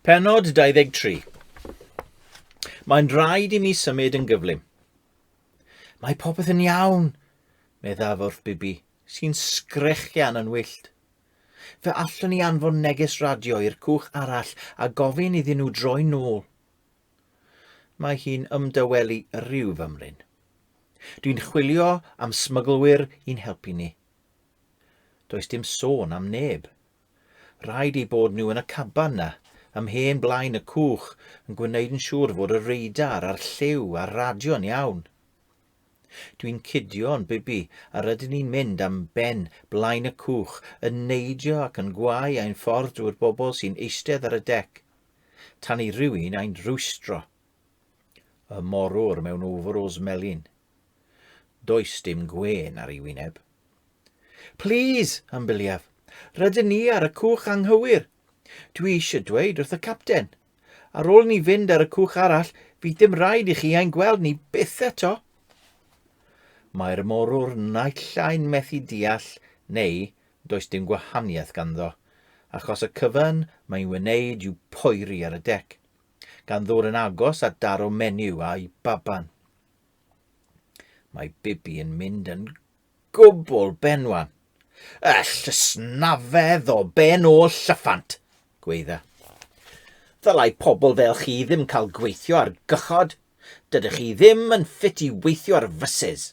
Penod 23. Mae'n rhaid i mi symud yn gyflym. Mae popeth yn iawn, meddaf wrth Bibi, sy'n sgrechian yn wyllt. Fe allwn ni anfon neges radio i'r cwch arall a gofyn iddyn nhw droi'n nôl. Mae hi'n ymdawelu rhyw fymryn. Dwi'n chwilio am smyglwyr i'n helpu ni. Does dim sôn am neb. Rhaid ei bod nhw yn y caban na, ymhen blaen y cwch, yn gwneud yn siŵr fod y reidar a'r lliw a'r radio'n iawn. Dwi'n cudio'n bibi a rydyn ni'n mynd am ben blaen y cwch yn neidio ac yn gwau ein ffordd drwy'r bobl sy'n eistedd ar y dec. tan i rywun ein rwystro. Y morwr mewn overalls melyn. Does dim gwên ar ei wyneb. Please, ambiliaf, rydyn ni ar y cwch anghywir. Dwi eisiau dweud wrth y capten. Ar ôl ni fynd ar y cwch arall, fydd dim rhaid i chi ein gweld ni byth eto. Mae'r morwr naill ai'n methu deall neu does dim gwahaniaeth ganddo, achos y cyfan mae'n wneud yw poeri ar y dec, gan ddŵr yn agos at daro menyw a'i baban. Mae Bibi yn mynd yn gwbl benwan. Y llysnafedd o ben ôl llyffant, gweidda. Ddylai pobl fel chi ddim cael gweithio ar gychod. Dydych chi ddim yn ffit i weithio ar fysys.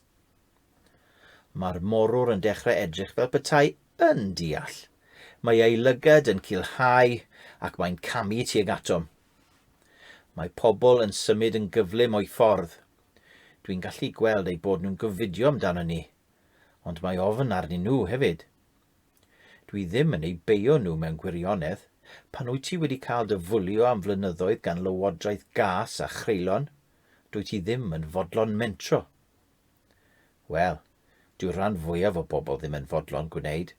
Mae'r morwr yn dechrau edrych fel petai yn deall. Mae ei lygad yn culhau ac mae'n camu tuag atom. Mae pobl yn symud yn gyflym o'i ffordd. Dwi'n gallu gweld eu bod nhw'n gofidio amdano ni, ond mae ofn arnyn nhw hefyd. Dwi ddim yn eu beio nhw mewn gwirionedd, pan wyt ti wedi cael dy fwlio am flynyddoedd gan lywodraeth gas a chreulon, dwyt ti ddim yn fodlon mentro. Wel, dyw'r rhan fwyaf o bobl ddim yn fodlon gwneud.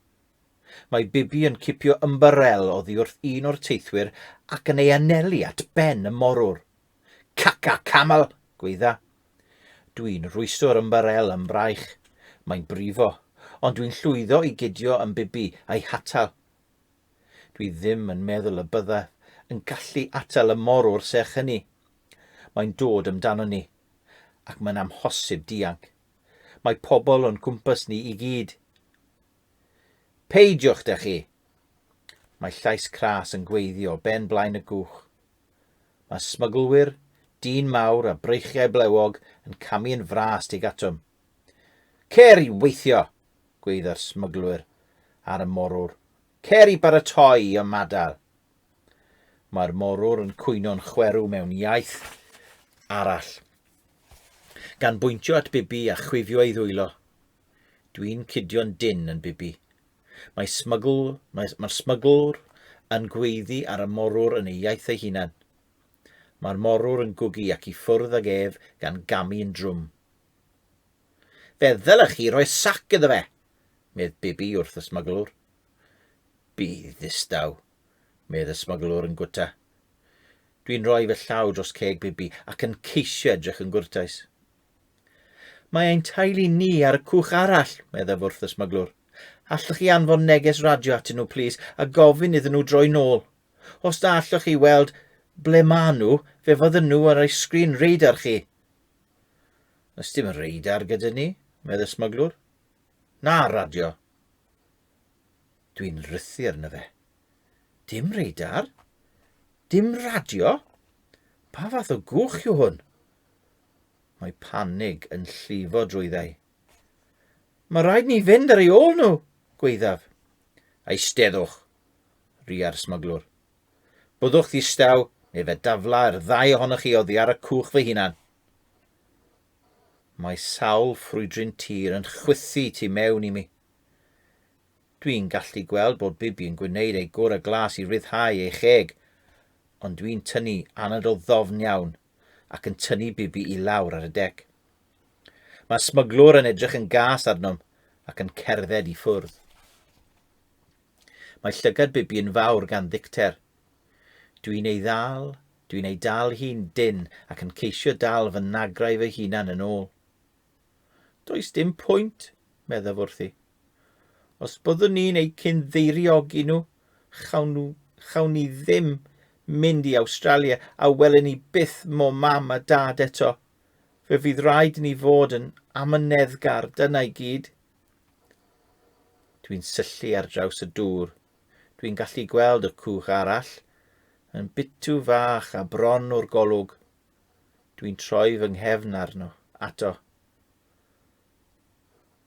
Mae Bibi yn cipio ymbarel oddi wrth un o'r teithwyr ac yn ei anelu at ben y morwr. Caca camel! gweidda. Dwi'n rwystio'r ymbarel ym mraich. Mae'n brifo, ond dwi'n llwyddo i gydio yn Bibi a'i hatal. Dwi ddim yn meddwl y byddaf yn gallu atal y morwr serch hynny. Mae'n dod amdano ni. ac mae'n amhosib dianc. Mae pobl o'n cwmpas ni i gyd. Peidiwch da chi! Mae llais cras yn gweiddi o ben blaen y gwch. Mae smyglwyr, dyn mawr a breichiau blewog yn camu yn fras tuag atom. Cer i weithio! gweidda'r smyglwyr ar y morwr. Cer i baratoi i ymadael! Mae'r morwr yn cwyno'n chwerw mewn iaith arall. Gan bwyntio at Bibi a chwifio ei ddwylo. Dwi'n cudio'n dyn yn Bibi. Mae smygl, mae'r mae smyglwr yn gweiddi ar y morwr yn ei iaith ei hunan. Mae'r morwr yn gwgu ac i ffwrdd ag ef gan gamu yn drwm. Fe ddylech chi roi sac iddo fe, medd Bibi wrth y smyglwr. Bydd ddistaw, medd y smyglwr yn gwta. Dwi'n rhoi fy llaw dros ceg Bibi ac yn ceisio edrych yn gwrtais. Mae ein teulu ni ar y cwch arall, meddaf wrth y smyglwr. Allwch chi anfon neges radio atyn nhw, plis, a gofyn iddyn nhw droi nôl. Os da allwch chi weld ble maen nhw, fe fydden nhw ar eich sgrin radar chi. Ys dim radar gyda ni, medd y smyglwr. Na, radio. Dwi'n rhythu arno fe. Dim radar? Dim radio? Pa fath o gwch yw hwn? Mae panig yn llifo drwyddau. Mae rhaid ni fynd ar ei ôl nhw, gweithaf. Eisteddwch, ria'r smuglwr. Byddwch ddistaw, neu fe daflau'r ddau ohonoch chi oddi ar y cwch fy hunan. Mae sawl ffrwydrin tir yn chwythu tu mewn i mi. Dwi'n gallu gweld bod Bibi yn gwneud ei gora glas i ryddhau ei cheg, ond dwi'n tynnu anadl ddofn iawn ac yn tynnu Bibi i lawr ar y dec. Mae smyglwr yn edrych yn gas arnom ac yn cerdded i ffwrdd. Mae llygad Bibi yn fawr gan ddicter. Dwi'n ei ddal Dwi'n ei dal hi'n dynn ac yn ceisio dal fy nagrau fy hunan yn ôl. Does dim pwynt, meddaf wrthi. Os byddwn ni'n eu cyn-ddeiriogi nhw, chawn, nhw, chawn ni ddim mynd i Awstralia a welen ni byth mo mam a dad eto. Fe fydd rhaid ni fod yn amyneddgar, dyna i gyd. Dwi'n syllu ar draws y dŵr Dwi'n gallu gweld y cwch arall yn bitw fach a bron o'r golwg. Dwi'n troi fy nghefn arno, ato.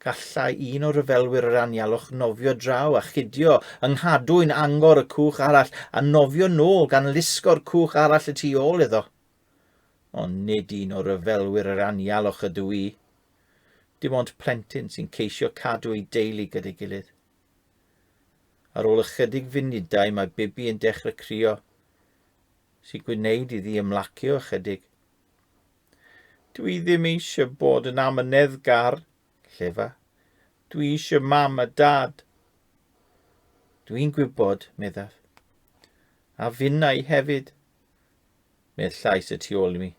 Gallai un o ryfelwyr yr anialwch nofio draw a chidio yng nghadwyn angor y cwch arall a nofio nôl gan lusgo'r cwch arall y tu ôl iddo. Ond nid un o ryfelwyr yr anialwch ydw i. Dim ond plentyn sy'n ceisio cadw ei deulu gyda'i gilydd. Ar ôl ychydig funudau mae Bibi yn dechrau crio, sy'n gwneud iddi ymlacio ychydig. Dw i ddim eisiau bod yn amyneddgar, llefa. Dw i eisiau mam a dad. Dw i'n gwybod, meddaf. A finna i hefyd. Mae'r llais y tu ôl i mi.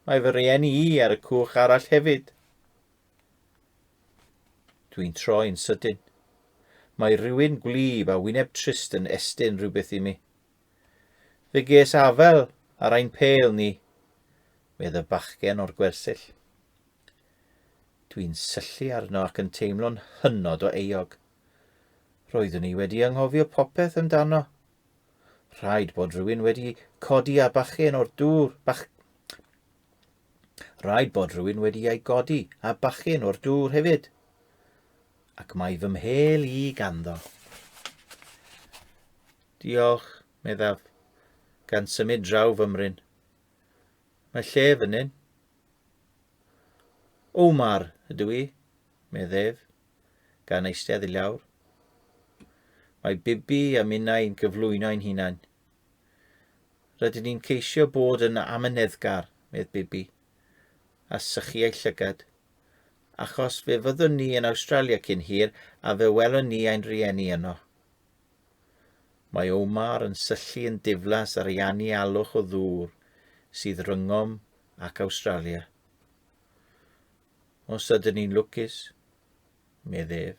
Mae fy rhieni i ar y cwch arall hefyd. Dwi'n troi'n sydyn. Mae rhywun gwlyb a wyneb trist yn estyn rhywbeth i mi. Fe ges afel ar ein pêl ni, medd y bachgen o'r gwersyll. Dwi'n syllu arno ac yn teimlo'n hynod o euog. Roeddwn i wedi anghofio popeth amdano. Rhaid bod rhywun wedi codi a bachgen o'r dŵr, bach, Rhaid bod rhywun wedi ei godi a bachgen o'r dŵr hefyd. Ac mae fy mhel i ganddo. Diolch, meddaf, gan symud draw fymryn. Mae lle fynnyn. Omar ydw i, meddef, gan eistedd i lawr. Mae Bibi a minnau yn cyflwyno'n hunain. Rydyn ni'n ceisio bod yn amyneddgar, medd Bibi, a sychu ei llygad. Achos fe fyddwn ni yn Awstralia cyn hir a fe welon ni ein rhieni yno. Mae Omar yn syllu yn diflas ar ei anialwch o ddŵr sydd rhyngom ac Awstralia. Os ydyn ni'n lwcus, medd ef.